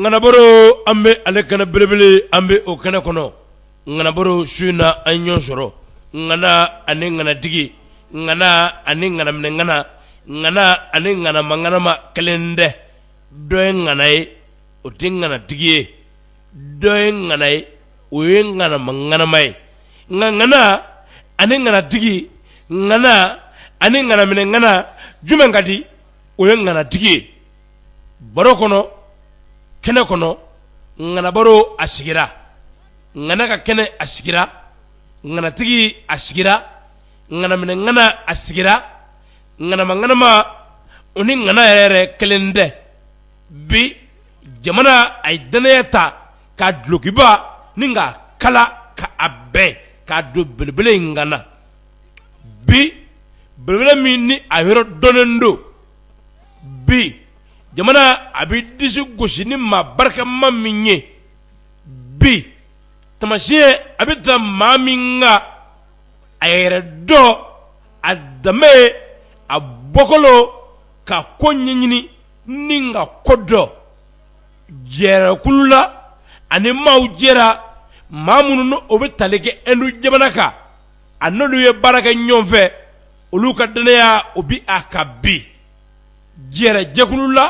ŋanabaro an bɛ ale kɛnɛ belebele an bɛ o kɛnɛ kɔnɔ ŋanabaro su in na an ɲɔgɔn sɔrɔ ŋana ani ŋanatigi ŋana ani ŋanaminɛŋana ŋana ani ŋanamaŋanama kelen tɛ dɔ ye ŋana ye o tɛ ŋanatigi ye dɔ ye ŋana ye o ye ŋanamaŋanama ye nka ŋana ani ŋanatigi ŋana ani ŋanaminɛŋana jumɛn ka di o ye ŋanatigi ye baro kɔnɔ kɛnɛ kɔnɔ ŋanabaro a sigira ŋana ka kɛnɛ a sigira ŋanatigi a sigira ŋanaminɛŋana a sigira ŋanamaŋanama o ni ŋana yɛrɛ kelen tɛ bi jamana a ye dannaya ta ka dulɔkiba ni ka kala ka a bɛɛ k'a don belebele in ŋana bi belebele min ni a yɔrɔ dɔnnen don bi jamana a bɛ disi gosi ni maa barikama min ye bi taamasiyɛn a bɛ taa maa min kan a yɛrɛ dɔn a danbe a bɔkolo ka ko ɲɛɲini ni ka kodɔn jɛrɛkulu la ani maaw jɛra maa minnu n'o bɛ tali kɛ ɛndu jamana kan a n'olu ye baara kɛ ɲɔgɔn fɛ olu ka dannaya o bɛ a kan bi jɛrɛ jɛkulu la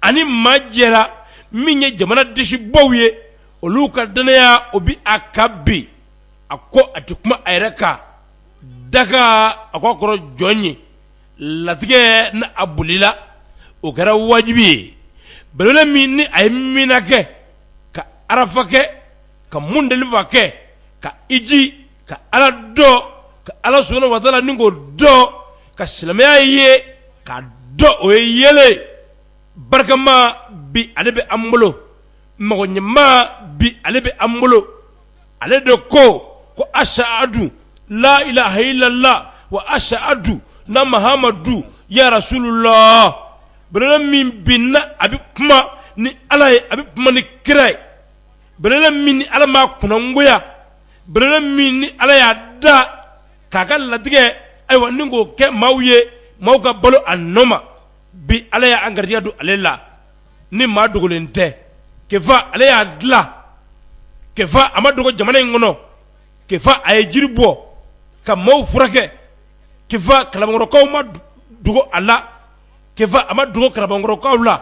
ani maa jɛra min ye jamana disibaw ye olu ka dannaya o bɛ a kan bi a ko a tɛ kuma a yɛrɛ kan daga a ko a kɔrɔ jɔn ye latigɛ ni a bolila o kɛra wajibi ye belebele min ni a ye mina kɛ ka arafa kɛ ka mundelifa kɛ ka hiji ka ala dɔn ka ala subhana wa taala nin ko dɔn ka silamɛya ye ka dɔn o ye yeelen barikama bi ale bɛ an bolo mɔgɔ ɲɛma bi ale bɛ an bolo ale de ko ko asahadu layilaha ilala wa asahadu ana mahamadu ya rasululahi belebele min bi n'a bɛ kuma ni ala ye a bɛ kuma ni kira ye belebele min ni ala ma kunnagoya belebele min ni ala y'a da k'a ka latigɛ ayiwa ni k'o kɛ maaw ye maaw ka balo a nɔ ma bi ala y' an garisigɛ don ale la ni maa dogolen tɛ kefa ale y'a dila kefa a ma dogo jamana in kɔnɔ kefa a ye jiri bɔ ka maaw furakɛ kefa kalabankɔrɔkaw ma dogo a la a ma dogo kalabankɔrɔkaw la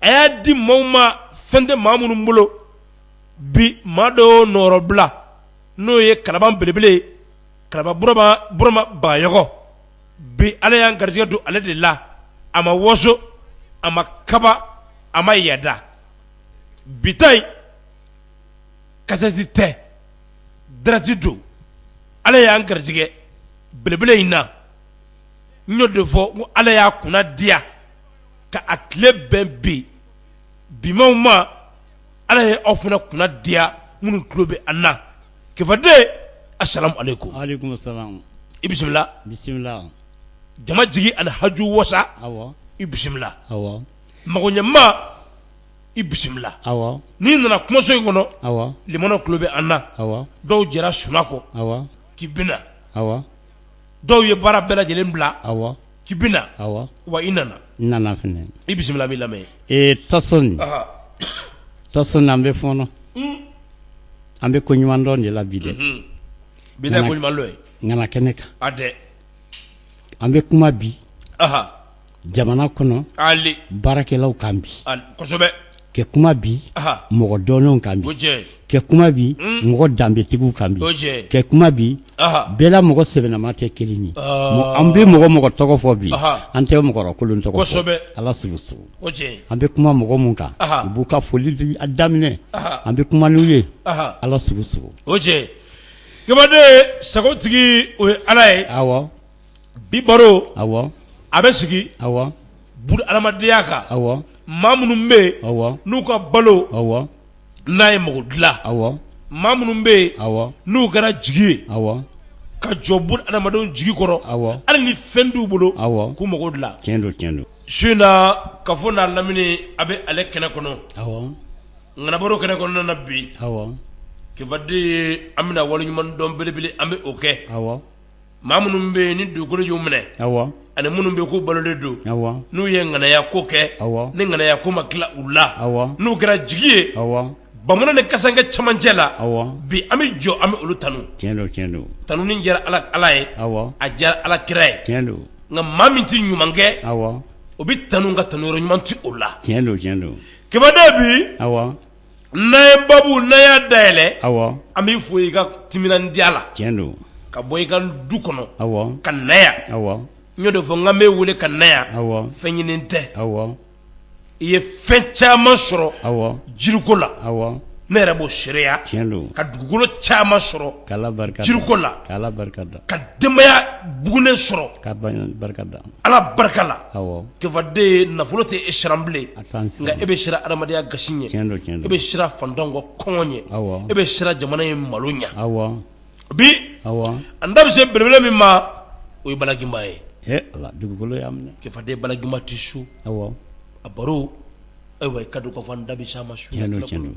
a y'a di maaw ma fɛn tɛ maa minnu bolo bi maa dɔ nɔɔrɔ bila n'o ye kalaban belebele kalaban burama bayɔgɔ bi ala y'an garijɛgɛ don ale de la a ma waso a ma kaba a ma yada bi ta in kasɛti tɛ dirɛkti don ala y'an garijɛgɛ belebele in na n y'o de fɔ ko ala y'a kunna diya ka a tile bɛn bi bi maaw ma ala ye aw fana kunna diya minnu tulo bɛ an na kifaden asalamu alekum i bisimila bisimila jama jigi ani haju wasa i bisimila mago ɲɛma i bisimila n'i nana kumaso in kɔnɔ lamɛnna tulo bɛ an na dɔw jɛra sunaa kɔ k'i bɛ na dɔw ye baara bɛɛ lajɛlen bila k'i bɛ na wa i nana nana fɛnɛ i bisimila n b'i lamɛn ee tason tason an bɛ fɔɔnɔ an bɛ ko ɲuman dɔn de la bi dɛ bi ta ko ɲuman dɔn ye ŋana kɛnɛ kan an bɛ kuma bi jamana kɔnɔ baarakɛlaw kan bi kɛ kuma bi mɔgɔ dɔnnenw kan bi kɛ kuma bi mɔgɔ danbetigiw kan bi kɛ kuma bi bɛɛ la mɔgɔ sɛbɛnama tɛ kelen ye an bɛ mɔgɔ mɔgɔ tɔgɔ fɔ bi an tɛ mɔgɔkolon tɔgɔ ala sugu sugu an bɛ kuma mɔgɔ minnu kan i b'u ka foli daminɛ an bɛ kuma n'u ye ala sugu sugu kibaden sagotigi o ye ala ye bi baro a bɛ sigi bunu adamadenya kan maa minnu bɛ yen n'u ka balo n'a ye mako dilan maa minnu bɛ yen n'u kɛra jigi ye ka jɔ bunu adamadenw jigi kɔrɔ hali ni fɛn t'u bolo k'u mako dilan tiɲɛ don suna kafo n'a lamini a bɛ ale kɛnɛ kɔnɔ ŋana baro kɛnɛ kɔnɔna na bi kibaden an bɛna wale ɲuman dɔn belebele an bɛ o kɛ maa minnu bɛ yen ni dugukolo y'u minɛ ani minnu bɛ kɔ balolen don n'u ye ŋanaya ko kɛ ni ŋanaya ko ma tila u la n'u kɛra jigi ye bamunan ni kasankɛ camancɛ la bi an bɛ jɔ an bɛ olu tanu tanu ni diyara ala ye a diyara ala kira ye nka maa min tɛ ɲuman kɛ o bɛ tanu nka tanu yɔrɔ ɲuman tɛ o la kibaden bi n'a ye babu n'a y'a dayɛlɛ an b'i fo i ka timinandiya la ka bɔ i ka du kɔnɔ ka na yan n y'o de fɔ n k'an b'i wele ka na yan fɛn ɲini tɛ i ye fɛn caman sɔrɔ jiriko la ne yɛrɛ b'o seereya ka dugukolo caman sɔrɔ jiriko la ka denbaya bugunen sɔrɔ ka barika da Ala barika la awɔ kefaden ye nafolo te e siran bilen a t'an siran nka e be siran adamadenya gasi ɲɛ tiɲɛ don tiɲɛ don e be siran fantanw ka kɔngɔ ɲɛ awɔ e be siran jamana in malo ɲɛ awɔ bi awɔ an da be se belebele min ma o ye Bala Ginba ye he Ala dugukolo y'a minɛ kefaden Bala Ginba tɛ so awɔ a baro ayiwa i ka dɔn ka fɔ an da be s'a ma su tiɲɛ don tiɲɛ don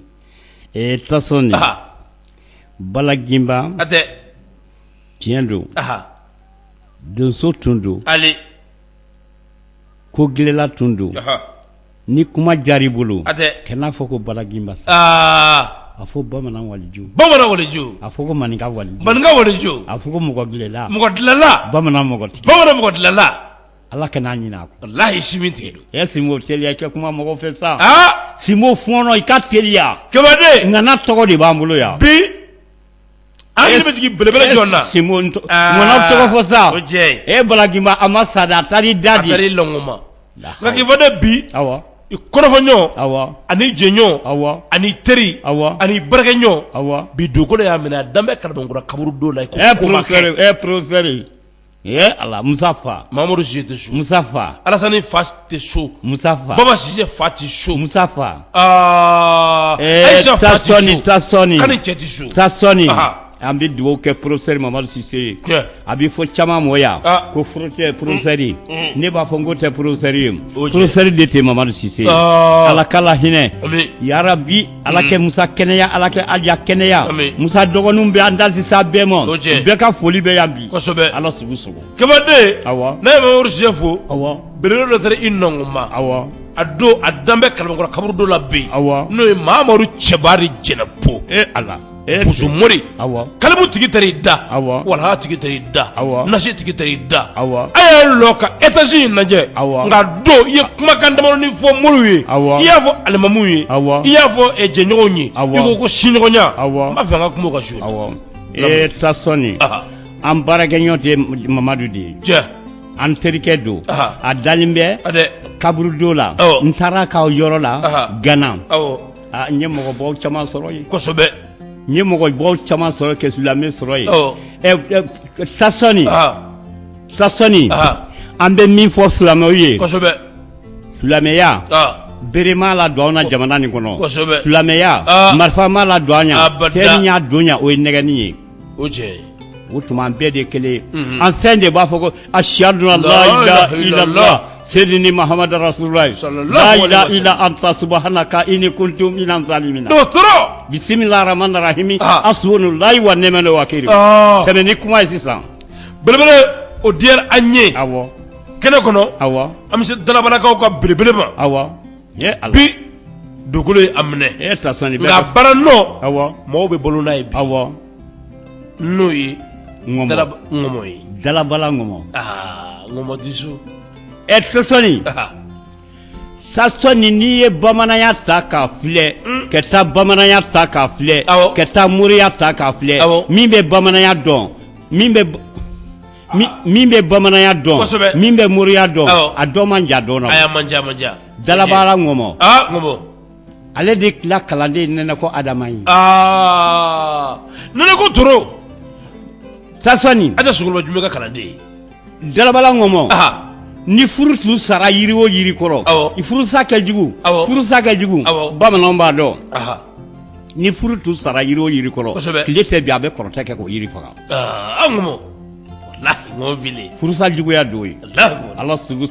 ee Tasɔni anhan Bala Ginba hatɛ tiɲɛ don anhan donso tun don hali ko gilanla tun don ni kuma diyara i bolo kɛ n'a fɔ ko Bala Ginba sa a fɔ bamanan waliju bamanan waliju a fɔ manin wali maninka waliju a fɔ mɔgɔ gilanla mɔgɔ dilanla bamanan mɔgɔ bamanan mɔgɔ dilanla ala kana ɲinɛ a kɔ walayi si min tigɛ e sinbo teliya kɛ kuma mɔgɔ fɛ sa sinbo fɔɔnɔ i ka teliya kefaden ŋana tɔgɔ de b'an bolo yan bi An hakili bɛ jigin belebele jɔni na? Sinbo ŋana tɔgɔ fɔ sa, o tiɲɛ, e Bala Ginba a ma sa dɛ, a taar'i da de, a taar'i nɔnkɔn ma, nka kefaden bi, awɔ, i kɔrɔfɔɲɔgɔn, awɔ, ani jɛɲɔgɔn, awɔ, ani teri, awɔ, ani baarakɛɲɔgɔn, awɔ, bi dugukolo y'a minɛ a dan bɛ Kalabankura kaburudo la, ɛ professeur ɛ professeur Ee ala musa fa mamadu sise tɛ so musa fa alasani fa tɛ so musa fa baba sise fa tɛ so musa fa ayisa fa tɛ so tasɔni kani cɛ tɛ so tasɔni an bɛ dugawu kɛ professeur mamadu sise ye a bɛ fɔ caman ma yan ko furu tɛ professeur ne b'a fɔ n ko tɛ professeur ye professeur de tɛ mamadu sise ala k'a lahinɛ yarabi Ala kɛ Musa kɛnɛya Ala kɛ Alya kɛnɛya amiina Musa dɔgɔninw bɛ an da tɛ se a bɛɛ ma o tiɲɛ bɛɛ ka foli bɛ yan bi kosɛbɛ Ala sugu sago Kefaden awɔ ne ye Mamadu Sise fo awɔ belebele dɔ taara i nɔnkɔn ma awɔ a don a dalen bɛ Kalabankura kaburudo la bi awɔ n'o ye Mamadu Cɛbari Jɛnɛpo ee Ala mori kalimu tigi taar'i da walaha tigi taar'i da nasi tigi taar'i da a y'a lɔ ka étage in lajɛ nka don i ye kumakan damadɔni fɔ moriw ye i y'a fɔ alimamuw ye i y'a fɔ jɛɲɔgɔnw ye i ko ko siɲɔgɔnya n b'a fɛ an ka kuma o kan su e tasɔni an baarakɛ ɲɔgɔn tɛ mamadu de ye an terikɛ don a dalen bɛ kaburudo la n taar'aw ka yɔrɔ la gana Aa n ye mɔgɔbaw caman sɔrɔ yen kosɛbɛ n ye mɔgɔbaw caman sɔrɔ kɛ silamɛ sɔrɔ yen tasɔni tasɔni an bɛ min fɔ silamɛw ye kosɛbɛ silamɛya bere m'a ladon an jamana nin kɔnɔ kosɛbɛ silamɛya marifa m'a ladon an ɲɛ fɛn min y'a don o ye nɛgɛni ye o tiɲɛ o tuma an bɛɛ de kelen an fɛn de b'a fɔ ko asadu an la seyidina mahamada rasululahi lahila ila anta subahanaka ini kuntu minazalimina bisimilaramani rahimi asibunalayi wa nimali wakili tɛmɛ ni kuma ye sisan belebele o diyara an ye awɔ kɛnɛ kɔnɔ awɔ an bɛ se dalabalakaw ka belebele ma awɔ bi dugukolo ye a minɛ nka baara nɔ mɔgɔw bɛ balo n'a ye awɔ n'o ye ŋɔmɔ ye dalabala ŋɔmɔ tasɔni tasɔni n'i ye bamananya ta k'a filɛ ka taa bamananya ta k'a filɛ ka taa moriya ta k'a filɛ min bɛ bamananya dɔn min bɛ min bɛ bamananya dɔn min bɛ moriya dɔn a dɔ man ja dɔn dalabala ŋɔmɔ ale de tila kalanden nɛnɛko adama ye ko t sa ka kalanden dalabala ŋɔmɔ ni furu tun sara yiri o yiri kɔrɔ i furusa kɛ jugu furusa kɛ jugu bamanan b'a dɔn ni furu tun sara yiri o yiri kɔrɔ tile fɛ bi a bɛ kɔrɔtɛ kɛ k'o yiri faga an ko furusa juguya don ye ala sago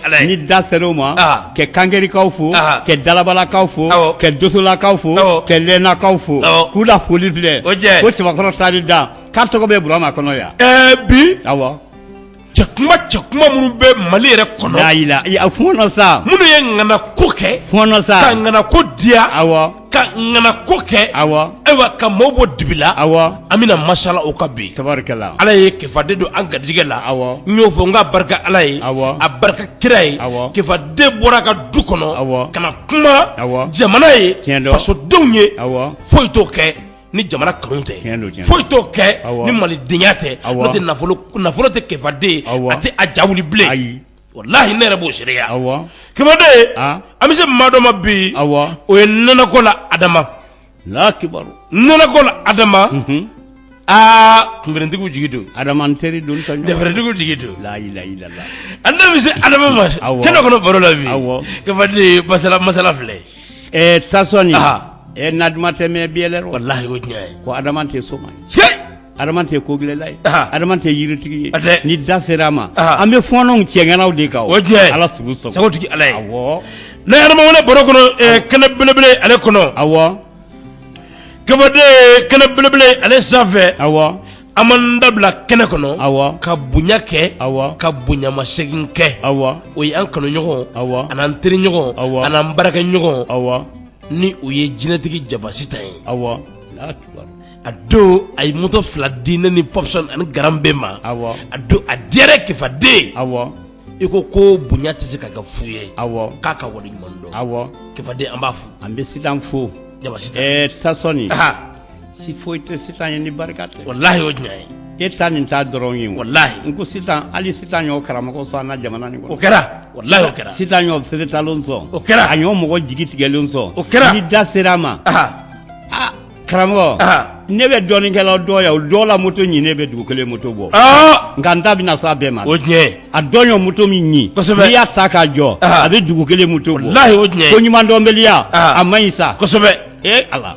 ala ni da ser'o ma ka kangerikaw fo ka dalabalakaw fo ka donsolakaw fo ka lɛnakaw fo k'u la foli filɛ ko cɛbakɔrɔ sadi da k'a tɔgɔ bɛ burama kɔnɔ yan bi cɛ kuma cɛ kuma minnu bɛ Mali yɛrɛ kɔnɔ, laa ilaa ee a fɔɔnɔ sa, minnu ye ŋana ko kɛ, fɔɔnɔ sa, ka ŋana ko diya, awɔ, ka ŋana ko kɛ, awɔ, ayiwa ka maaw bɔ dibi la, awɔ, an bɛna masala o kan bi, tabarikala, Ala ye kefaden don an garijɛgɛ la, awɔ, n y'o fɔ n k'a barika Ala ye, awɔ, a barika kira ye, awɔ, kefaden bɔra a ka du kɔnɔ, awɔ, ka na kuma, awɔ, jamana ye, tiɲɛ don, fasodenw ye, awɔ, foyi t'o kɛ ni jamana kanu tɛ foyi t'o kɛ ni malidenya tɛ n'o tɛ nafolo tɛ kefaden a tɛ a ja wuli bilen ayi walayi ne yɛrɛ b'o seereya kefaden an bɛ se maa dɔ ma bi o ye nɛnɛko la adama kibaru nɛnɛko la adama aa kuntigiw jigi don adama n teri don dɛrɛtigiw jigi don an da bɛ se adama ma kɛnɛ kɔnɔ baro la bi kefaden masala masala filɛ Ɛɛ tasɔni ɛ na duman tɛ mɛɛn biyɛlɛ rɔ walayi o tiɲɛ ye ko adama tɛ soma ye adama tɛ ko gɛlɛla ye adama tɛ yiritigi ye ni da sera a ma an bɛ fɔlɔ cɛ ŋanaw de kan o tiɲɛ ye ala sago sagotigi ala ye awɔ ne adama baro kɔnɔ kɛnɛ belebele ale kɔnɔ awɔ kefaden kɛnɛ belebele ale sanfɛ awɔ An b'an da bila kɛnɛ kɔnɔ, awɔ, ka bonya kɛ, awɔ, ka bonyamasegin kɛ, awɔ, o ye an kanuɲɔgɔn, awɔ, ani an teriɲɔgɔn, awɔ, ani an baarakɛɲɔgɔn, awɔ, ni o ye jinɛtigi Jaba Sitan ye, awɔ, Alahu akibaru, a don a ye moto fila di ne ni Pɔpsɔni ani Garan bɛɛ ma, awɔ, a don a diyara n ye Kefaden, awɔ, i ko ko bonya tɛ se ka kɛ fu ye, awɔ, k'a ka waleɲuman dɔn, awɔ, Kefaden an b'a fo, an bɛ Sitan fo, Jabasi ta, ɛɛ Tasɔni, anhan se foyi tɛ sitan ye ni barika tɛ walahi o tiɲɛ ye e ta nin ta dɔrɔn ye walahi n ko sitan hali sitan y'o karamɔgɔ sɔn an ka jamana nin kɔnɔ o kɛra walahi o kɛra sitan y'o feretalen sɔn o kɛra a y'o mɔgɔ jigi tigɛlen sɔn o kɛra ni da sera a ma aa karamɔgɔ ne bɛ dɔnnikɛlaw dɔn yan o dɔ la moto ɲininen bɛ dugu kelen moto bɔ nka n ta bɛna s'a bɛɛ ma o tiɲɛ a dɔ y'o moto min ɲini kosɛbɛ n'i y'a ta k'a jɔ a bɛ dugu kelen moto bɔ walahi o tiɲɛ ko ɲuman dɔnbaliya a man ɲi sa kosɛbɛ ee ala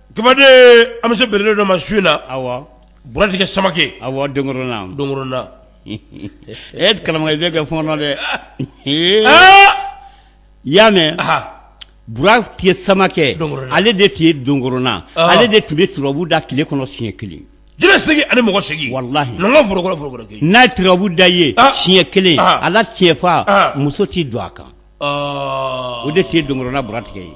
an bɛ se belebele dɔ ma su in na buratigɛ samakɛ e karamɔgɔkɛ i bɛ kɛ fɔɔnɔ dɛ i y'a mɛn buratigɛ samakɛ ale de tun ye donkoronna ale de tun bɛ turabu da tile kɔnɔ siɲɛ kelen jinɛ seegin ani mɔgɔ seegin n'a turabu da ye siɲɛ kelen ala tiɲɛfa muso t'i don a kan o de tun ye donkoronna buratigɛ ye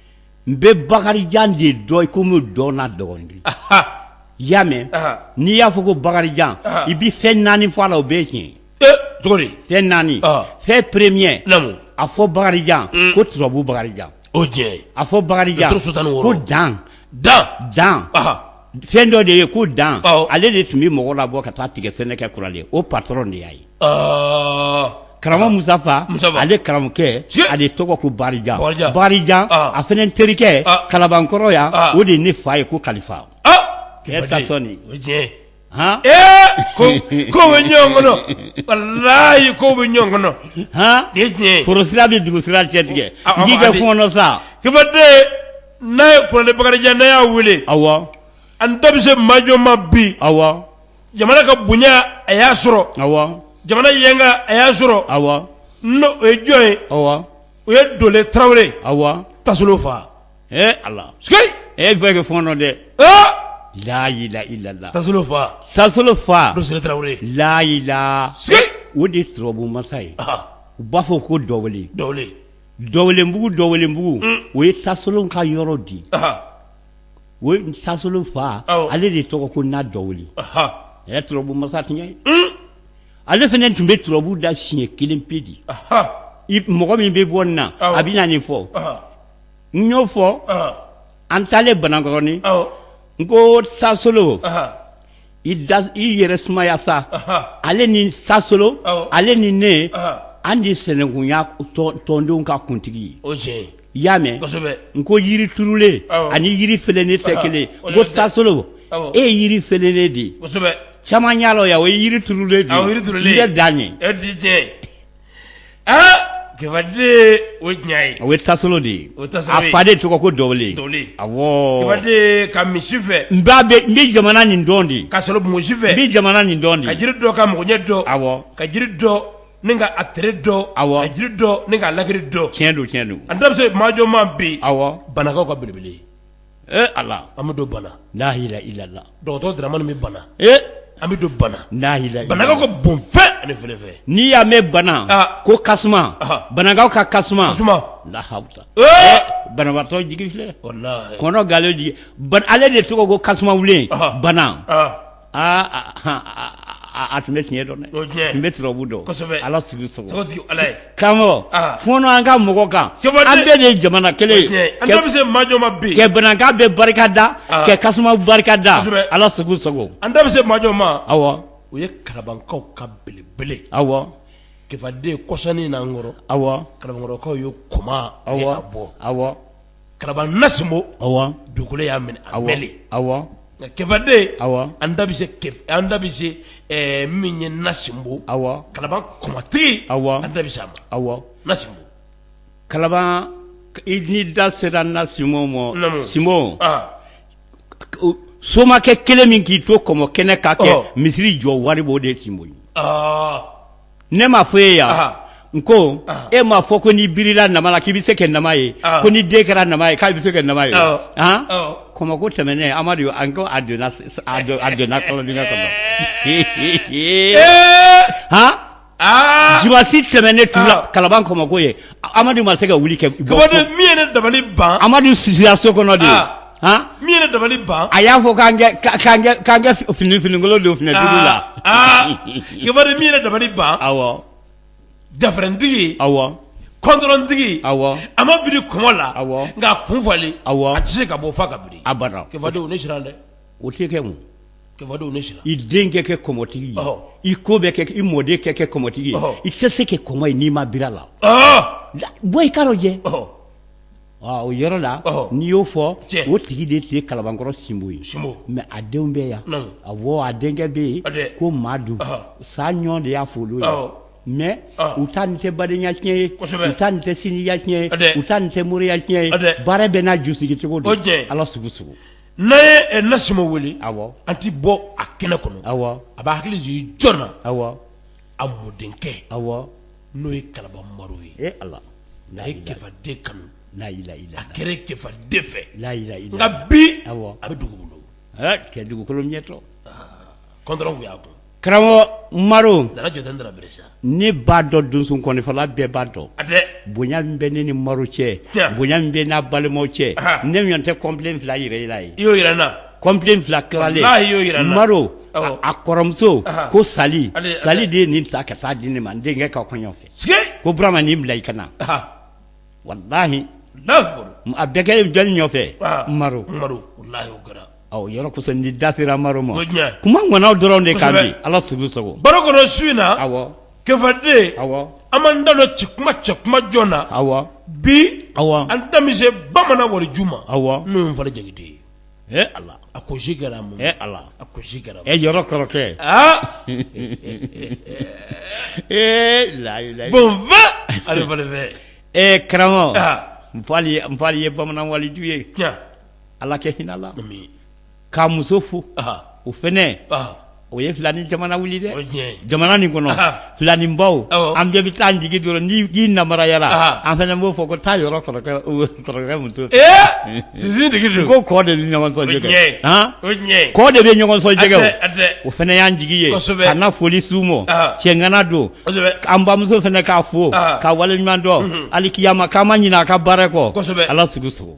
n bɛ bakarijan de dɔn i ko min dɔn n'a dɔgɔnin de ye, anhan, i y'a mɛn, anhan, n'i y'a fɔ ko bakarijan, anhan, i bɛ fɛn naani fɔ a la o bɛɛ ye tiɲɛ ye, ee, cogo di, fɛn naani, ɔhɔ, fɛn premier naamu, a fɔ bakarijan ko turabu bakarijan, o ye tiɲɛ ye, a fɔ bakarijan ko dan, dan, dan, anhan fɛn dɔ de ye ko dan ale de tun bɛ mɔgɔw labɔ ka taa tigɛ sɛnɛ kɛ kuralen o patɔrɔn de y'a ye karamɔgɔ musafa ale karamɔgɔkɛ ale tɔgɔ ko bakarijan a fana terikɛ kalabankɔrɔ yan o de ye ne fa ye ko kalifa tasɔni hɔn ko ko bɛ ɲɔgɔn kɔnɔ walahi ko bɛ ɲɔgɔn kɔnɔ hɔn tiɲɛ forosira bɛ dugu sira cɛ tigɛ k'i kɛ fɔɔnɔ sa n'a ye kuralen bakarijan n'a y'a wele awa an da bɛ se maa jɔn ma bi awa jamana ka bonya a y'a sɔrɔ awa jamana yanga a y'a sɔrɔ awa n o ye jɔn ye awa o ye dɔwele tarawele awa tasolon fa ee a e bɛ kɛ fɔɔnɔ dɛ layila i lala tasolon fa tasolon fa dɔwele tarawele layila o de ye turabu masa ye u b'a fɔ ko dɔ dɔwelenbugu dɔwelenbugu o ye tasolon ka yɔrɔ di o ye tasolon fa ale de tɔgɔ ko na dɔwele a turabu masa tiɲɛ ye ale fana tun bɛ turabu da siɲɛ kelen pe de ye mɔgɔ min bɛ bɔ nin na a bɛ na nin fɔ n y'o fɔ an taalen banankɔrɔnin n ko tasolon i yɛrɛ sumaya sa ale ni tasolo ale ni ne an de sɛnɛnkunya tɔndenw ka kuntigi ye i y'a mɛn n ko yiri turulen ani yiri fɛlɛnnen tɛ kelen ko tasolo e ye yiri fɛlɛnnen de ye caman y'a lɔn o ye yiri turulen de ye i bɛ dan ye Kɛfaden o ye o ye tasolo de ye o fa de tɔgɔ ko a ka misi fɛ n bɛ jamana nin dɔn de ka sɔrɔ misi fɛ n bɛ jamana nin dɔn ka jiri dɔn ka mɔgɔ ɲɛ dɔn awɔ ka jiri dɔn ni ka a tere dɔn awɔ ka jiri dɔn ka lakari dɔn tiɲɛ don tiɲɛ don an da bɛ se maajɔma bi awɔ banakaw ka belebele ee ala an bɛ don bana layila ilala dɔgɔtɔrɔ daramani bɛ bana ee an bɛ don bana layila banakaw ka bon fɛn ani fɛlɛfɛ n'i y'a mɛn bana ko kasuma banakaw ka kasuma lahasa banabatɔ jigi filɛ kɔnɔganlenw jigi ale de tɔgɔ ko kasuma wulen bana aaa a tun bɛ tiɲɛ dɔn tun bɛ turabu dɔn ala sigi karamɔgɔ fɔnɔ an ka mɔgɔ kan an bɛɛ de ye jamana kelen ye an da bɛ se majɔma bi kɛ banaka bɛ barika da kɛ kasuma barika da ala segu sago an da bɛ se majɔma awɔ o ye kalabankaw ka belebele awɔ kɛfaden kɔsannin n'an kɔrɔ awɔ kalabankɔrɔkaw ye kɔmɔ bɔ awɔ kalaban na sinbo dugukolo y'a minɛ a wele awɔ kɛfaden awɔ an da bɛ se min ye na sinbo kalaban kɔmɔtigi an da bɛ se a ma na sinbo kalaban i da sera na sinbo ma sinbo somakɛ kelen min k'i to kɔmɔ kɛnɛ k'a kɛ misiri jɔ wari b'o de sinbo ye ne ma fɔ e yan n ko e m'a fɔ ko n'i birila nama la k'i bɛ se kɛ nama ye ko ni den kɛra nama ye k'a bɛ se kɛ nama ye han kɔmɔko tɛmɛnen amadu an ko a donna a donna kɔlɔndingɛ kɔnɔ han dimansi tɛmɛnen tu la kalaban kɔmɔko ye Amadu ma se ka wuli kɛ min ye ne dabali ban amadu si so kɔnɔ de min ye dabali ban a y'a fɔ k'an ka finikolon don fini la min ye ne dabali ban dafɛrɛntigi kɔntɔrɔntigi a ma biri kɔmɔ la nka a kun falen a tɛ se ka bɔ f'a ka biri dɛ o tɛ kɛ mun i denkɛ kɛ kɔmɔtigi ye i ko bɛ kɛ i mɔdenkɛ kɛ kɔmɔtigi ye i tɛ se kɛ kɔmɔ ye n'i ma biri a la bɔ i ka dɔ jɛ o yɔrɔ la n'i y'o fɔ o tigi de tun ye kalabankɔrɔ sinbo ye mɛ a denw bɛ yan awɔ a denkɛ bɛ yen ko madu saɲɔ de y'a fɔlɔ ye mɛ u ta nin tɛ badenya tiɲɛ ye u ta nin tɛ sinjiya tiɲɛ ye u ta nin tɛ moriya tiɲɛ ye baara bɛɛ n'a ju sigi cogo don ala sugu N'a ye Nasima wele, awɔ, an tɛ bɔ a kɛnɛ kɔnɔ, awɔ, a b'a hakili jigin jɔni na, awɔ, a mɔdenkɛ, awɔ, n'o ye kalaban Maru ye, e Ala, a ye Kefa den kanu, laa ilaaha illa laahu, a kɛra Kefa den fɛ, laa ilaaha illa laahu, nka bi, awɔ, a bɛ dugu bolo, aa, kɛ dugukolo ɲɛtɔ, aa, kɔntɔrɔn tun y'a kun karamɔgɔ maru ne b'a dɔn donsonkɔnifɔla bɛɛ b'a dɔn bonya min bɛ ne ni maru cɛ bonya min bɛ n'a balimaw cɛ ne ɲɔgɔn tɛ kɔnpilɛ fila jira i y'o kɔnpilɛ fila kalalen y'o maru a kɔrɔmuso ko sali sali de ye nin ta ka taa di ne ma n denkɛ ka kɔɲɔ fɛ ko burama nin bila i kan na walayi a bɛɛ kɛ jɔnni nɔfɛ Yɔrɔ da sera maru ma kuma ŋanaw dɔrɔn de kan ala sago su in na kefa den an ma da don ci kuma cɛ kuma jɔn na aw bi an da bɛ se bamanan waliju ma aw n'o ye nfali jakite ye a ko si kɛra a ko si kɛra e yɔrɔ kɔrɔkɛ ee la ale fɛ ee karamɔgɔ nfali ye bamanan waliju ye ala kɛ hinɛ a la k'a muso fo o fana o ye filanin jamana wili dɛ jamana nin kɔnɔ filanin baw an bɛɛ bɛ taa jigi dɔrɔn ni namaruyayala an fana b'o fɔ ko taa yɔrɔ muso sisintigi ko kɔ de bɛ ɲɔgɔn sɔn jɛgɛ kɔ de bɛ ɲɔgɔn sɔn jɛgɛ o fana y'an jigi ye a foli s'o ma cɛŋana don an bamuso fana k'a fo ka wale ɲuman dɔn alikiyama k'an ma ɲinɛ a ka baara kɔ ala sago sago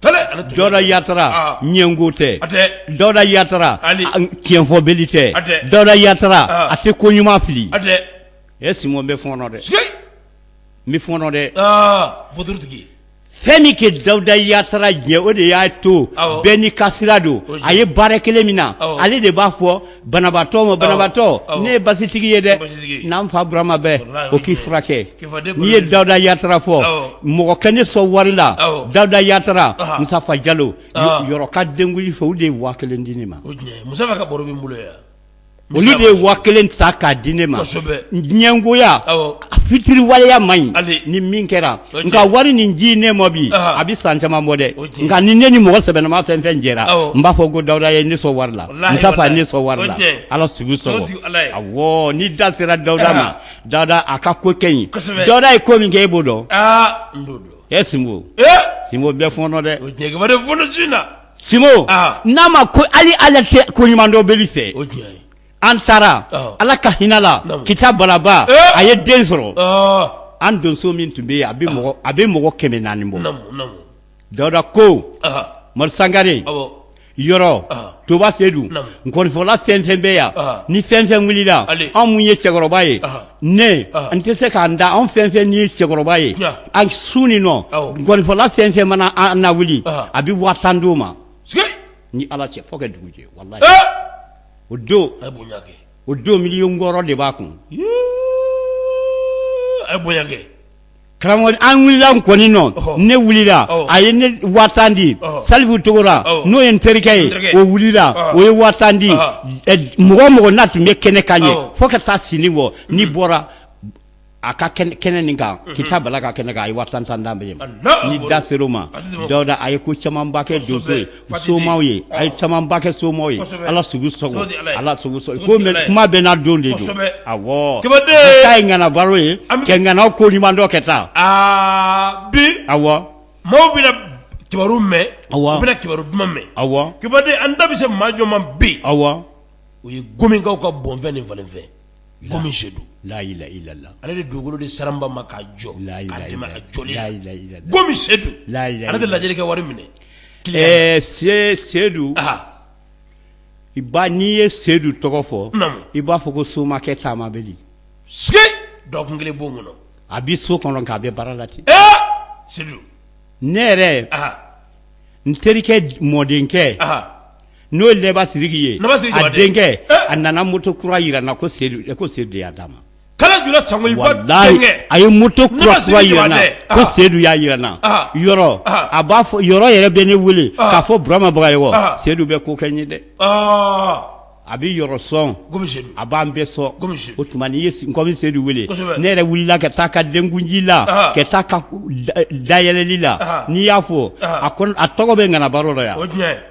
tale ale tun dawuda yatara Ah. ɲɛngo tɛ a tɛ dawuda yatara Ali. a- tiɲɛfɔbeli tɛ A tɛ. dɔda yatara Ah. a tɛ ko ɲuman fili a tɛ e sinbo n bɛ fɔɔnɔ dɛ sike n bɛ fɔɔnɔ dɛ aa fotorotigi fɛn min kɛ dawuda yatara diya n ye o de y'a to Awɔ. bɛɛ n'i ka sira don Ozi. a ye baara kelen min na Awɔ. ale de b'a fɔ Banabaatɔ ma banabaatɔ ne ye basitigi ye dɛ n'an fa burama bɛɛ o k'i furakɛ n'i ye dawuda yatara fɔ mɔgɔ kɛ ne sɔn wari la dawuda yatara musafa jalo yɔrɔ ka denkundi fɛ olu de ye waa kelen di ne ma olu de ye waa kelen ta k'a di ne ma diɲɛgoya fitiriwaleya man ɲi ni min kɛra nka wari nin ji ne ma bi a bɛ san caman bɔ dɛ nka ni ne ni mɔgɔ sɛbɛnama fɛn fɛn jɛra n b'a fɔ ko dawuda ye ne sɔn wari la musafa ye ne sɔn wari la ala sago sago awɔ ni da sera dawuda ma dawuda a ka ko kɛ ɲi dawuda ye ko min kɛ e b'o dɔn e sinbo sinbo n bɛ fɔɔnɔ dɛ na n'a ma ko hali ala tɛ ko ɲuman dɔnbali fɛ an taara ala ka hinɛ la kita balaba a ye den sɔrɔ an donso min tun bɛ yen a bɛ mɔgɔ kɛmɛ naani bɔ dawuda ko mari sangare yɔrɔ toba seyidu nkɔnifɔla fɛn fɛn bɛ yan ni fɛn fɛn wulila anw mun ye cɛkɔrɔba ye ne n tɛ se k'an da anw fɛn fɛn ye cɛkɔrɔba ye an sun nin nɔ nkɔnifɔla fɛn fɛn mana an na wuli a bɛ waa tan d'o ma ni ala cɛ fo ka dugu jɛ o don a bonya o don miliyɔn wɔɔrɔ de b'a kun a bonya karamɔgɔ an wulila kɔni nɔ ne wulila a ye ne waa tan di salifu togora n'o ye n terikɛ ye o wulila o ye waa tan di mɔgɔ mɔgɔ n'a tun bɛ kɛnɛ kan yen fo ka taa sini bɔ n'i bɔra a ka kɛnɛ nin kan kita bala ka kɛnɛ kan a ye waa tan tan d'an bɛɛ ma ni da ser'o ma dawuda a ye ko camanba kɛ donso ye somaw ye a ye camanba kɛ somaw ye ala sugu ala kuma bɛɛ n'a don de don k'a ye ŋana baro ye kɛ ŋanaw ko ɲuman dɔ kɛ taa aa bi awɔ maaw bɛna kibaru mɛn u bɛna kibaru duman mɛn a kibaden an da bɛ se maa jɔn ma bi awɔ o ye gomikaw ka bɔnfɛn ni falenfɛn gomi seyidu layila ilala ale de dugukolo de saraba ma ka jɔ la gomi sedu la ale de lajɛlikɛ wari minɛ ɛɛ se seyidu i ba n'i ye seyidu tɔgɔ fɔ i b'a fɔ ko somakɛ taama bɛ se dɔgɔkun kelen b'o kɔnɔ a bɛ so kɔnɔ k'a bɛ baara la ten seyidu ne yɛrɛ n terikɛ mɔdenkɛ n'o ye lɛba siriki ye a denkɛ a nana moto kura yira n na ko sedu de y'a d'a ma a ye moto kura yira n na ko seyidu y'a yira n na yɔrɔ a b'a fɔ yɔrɔ yɛrɛ bɛ ne wele k'a fɔ burama bagayɔgɔ seyidu bɛ ko kɛ n ye dɛ a bɛ yɔrɔ sɔn a b'an bɛɛ sɔn o tuma n'i ye gomi seyidu wele ne yɛrɛ wulila ka taa ka denkunji la ka taa ka dayɛlɛli la n'i y'a fɔ a tɔgɔ bɛ ŋana baro dɔ yan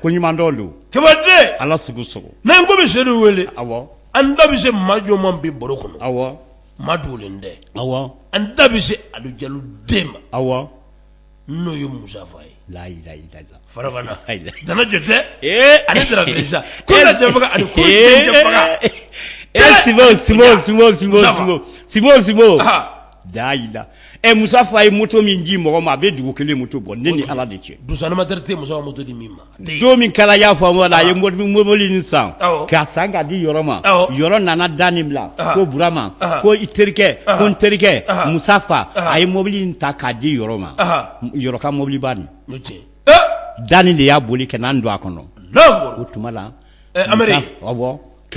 ko ɲuman dɔ don kɛmɛden ala sugu sogo n'an gomi seyidu wele awɔ an da bɛ se maa jɔn ma bi baro kɔnɔ awɔ maa dogolen tɛ awɔ an da bɛ se alu jalo den ma awɔ n'o ye musafa ye layi fara dana jɔ tɛ ani dara dirisa ko ali ko e si si si si la ɛ musa fa ye moto min ji mɔgɔ ma a bɛ dugu kelen moto bɔ ne ni ala de cɛ tɛ musa fa moto di min ma don min kala y'a fɔ wala a ye mɔbili nin san k'a san k'a di yɔrɔ ma yɔrɔ nana da ni bila ko burama ko i terikɛ ko n terikɛ musa fa a ye mɔbili in ta k'a di yɔrɔ ma yɔrɔ ka mɔbiliba nin da ni de y'a boli ka n'an don a kɔnɔ o tuma la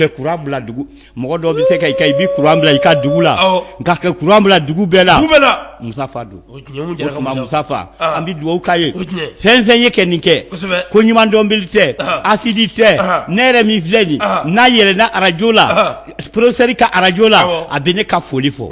kuran bila dugu mɔgɔ dɔ bɛ se ka i bɛ kuran bila i ka dugu la nka kɛ kuran bila dugu bɛɛ la musa fa don o tuma musa fa an bɛ dugawu k'a ye fɛn fɛn ye kɛ nin kɛ ko ɲuman dɔnbili tɛ asidi tɛ ne yɛrɛ min filɛ nin n'a yɛlɛnna arajo la porosɛri ka arajo la a bɛ ne ka foli fɔ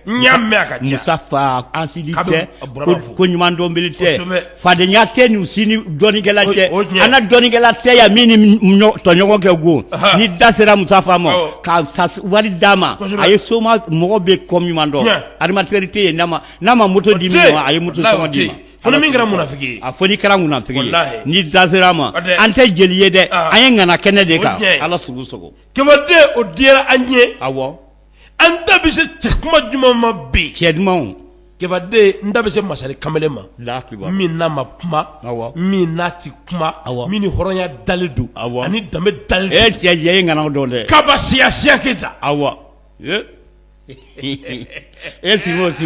n y'a mɛn a ka ca Musa fa asidi Kabini tɛ a bɔra ko b'a fɔ. ko ɲuman dɔnbili tɛ Kosɛbɛ. fadenya tɛ nin si ni dɔnikɛla O- tɛ o tiɲɛ. an na dɔnikɛla tɛ yan min ni m- ɲɔ- tɔɲɔgɔn kɛ go Aha. ni da sera Musa fa ma Awɔ. ka ka s- wari d'a ma Kosɛbɛ. a ye soma mɔgɔ bɛ ko ɲuman dɔn Tiɲɛ. animatɛri tɛ yen n'a ma n'a ma moto di tɛ min ma a ye moto Walahi, sɔngɔ o di tɛ ma Fo ni min kɛra munafiki ye. a fɔ ni kɛra munafiki ye Walahi. ni da sera a ma O tɛ. an tɛ jeli ye dɛ Aha. an ye ŋana kɛnɛ de O kan tiɲɛ. Ala sugu sogo kɛmɛden o diyara an ye awɔ an da bɛ se cɛ kuma jumɛn ma bi cɛ duman kɛmɛden n da bɛ se masari kamalen ma min n'a ma kuma min n'a tɛ kuma a min ni hɔrɔnya dalen don ani danbe dalen cɛ diya ye ŋana dɔn dɛ kaba siya siya keyita aw e si si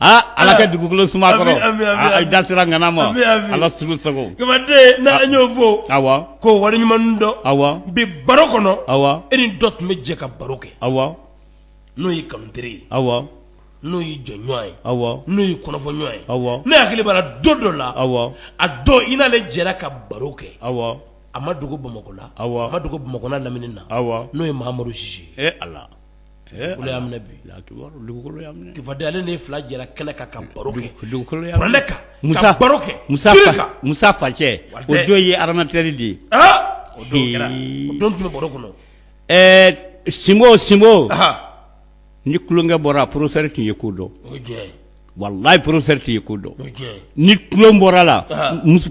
aa Ala ka dugukolo suma kɔrɔ Ami, ami, ami, a- a ami. da sera ŋana ma Ami, ami. Ala sugu sogo Kɛmɛden n'an y'o fɔ awa ko wale ɲuman dɔn awa bi baro kɔnɔ awa e ni dɔ tun bɛ jɛ ka baro kɛ awa n'o ye kanuteri ye awa n'o ye jɔɲɔgɔn ye awa n'o ye kɔnɔfɔɲɔgɔn ye awa ne hakili b'a la don dɔ la awa a don i n'ale jɛra ka baro kɛ awa a ma dogo bamakɔ la Awɔ. a ma dogo bamakɔ n'a lamini na awa n'o ye mahamadu sise ye e Ala y'a minɛ bi ale ni fila jɛra kɛnɛ kan ka baro kɛ musa facɛ o don ye animatɛri de ye don tun bɛ baro kɔnɔ ɛɛ sinbo sinbo ni tulonkɛ bɔra porosɛri tun ye ko dɔn walayi porosɛri tun ye ko dɔn ni tulon bɔra a la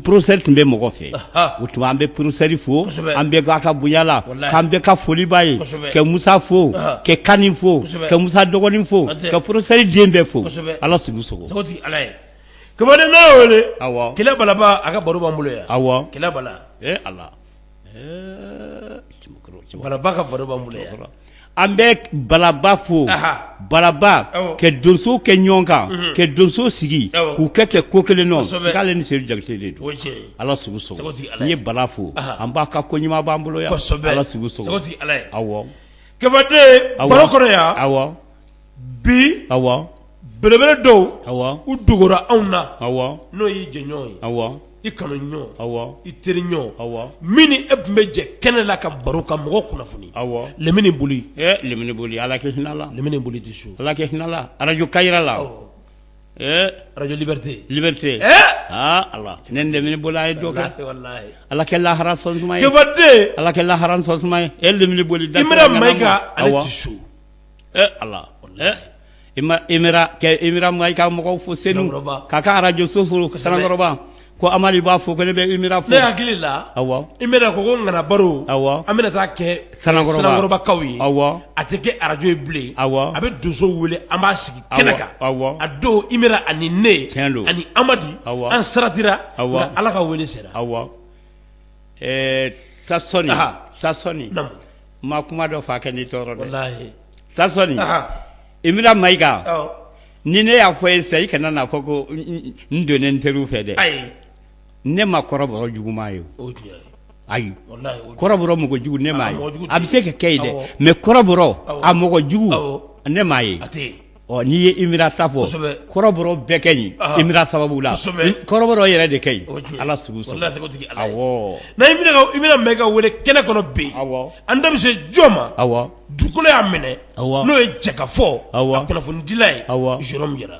porosɛri tun bɛ mɔgɔ fɛ o tuma an bɛ porosɛri fo an bɛ a ka bonya la k'an bɛɛ ka foli b'a ye ka musa fo ka kani fo ka musa dɔgɔnin fo ka porosɛri den bɛɛ fo ala sugu sogo kɛlɛ balaba a ka baro b'an bolo yan awɔ kɛlɛ balaba ka baro b'an bolo an bɛ balaba fo balaba ka donso kɛ ɲɔgɔn kan ka donso sigi k'u kɛ kɛ ko kelen nɔ k'ale ni seyidu jakite de don ala sugu sogo n ye bala fo an b'a ka ko ɲuman b'an bolo yan kɛmɛden baro kɔnɔ yan bi awɔ belebele dɔw u dogora anw na n'o y'i jɛɲɔgɔn ye i kanuɲɔgɔn awɔ i teriɲɔgɔn awɔ min ni e tun bɛ jɛ kɛnɛ la ka baro ka mɔgɔ kunnafoni awɔ lamini boli lamini boli ala ke hinɛ la lamini boli tɛ so ala ke hinɛ la arajo Kayira la arajo liberté aa ala ne lamini boli a ye dɔ ala ke lahara sɔn ala ke lahara sɔn e lamini boli da ma ka su e Ala e i ma Imera kɛ Imera Mayiga ka mɔgɔw fo Senu Sanankɔrɔba k'a ka arajo so fo kosɛbɛ Sanankɔrɔba ko Amadi b'a fɔ ko ne bɛ Imera fo ne hakili la awɔ Imera a ko ko ŋana baro awɔ an bɛna taa kɛ Sanankɔrɔba Sanankɔrɔbakaw ye awɔ a tɛ kɛ arajo ye bilen awɔ a bɛ donsow wele an b'a sigi kɛnɛ kan awɔ awɔ a don Imera ani ne tiɲɛ don ani Amadi awɔ an saratira awɔ nka Ala ka wele sera awɔ ɛɛ Sasɔni anhan Sasɔni namu Ma kuma dɔ fa kɛ ni tɔɔrɔ dɛ Sasɔni Imera Mayiga ni ne y'a fɔ i ye sa i kana n'a fɔ ko n donnen n teriw fɛ dɛ ayi ne ma kɔrɔbɔrɔ juguman ye ayi kɔrɔbɔrɔ mɔgɔ jugu ne m'a ye a bɛ se ka kɛ ye dɛ mɛ kɔrɔbɔrɔ a mɔgɔ jugu ne m'a ye ɔ n'i ye Imera ta fɔ kosɛbɛ kɔrɔbɔrɔ bɛɛ ka ɲi ɔhɔ Imera sababu la kosɛbɛ i kɔrɔbɔrɔ yɛrɛ de ka ɲi o ye tiɲɛ ye Ala sugu sago walahi o tigi Ala ye awɔɔ na Imera ka Imera Mayiga wele kɛnɛ kɔnɔ bi awɔ an da bɛ se jɔn ma awɔ dugukolo y'a minɛ awɔ n'o ye Jɛkafɔ awɔ a kunnafonidila ye awɔ Jérôme Jara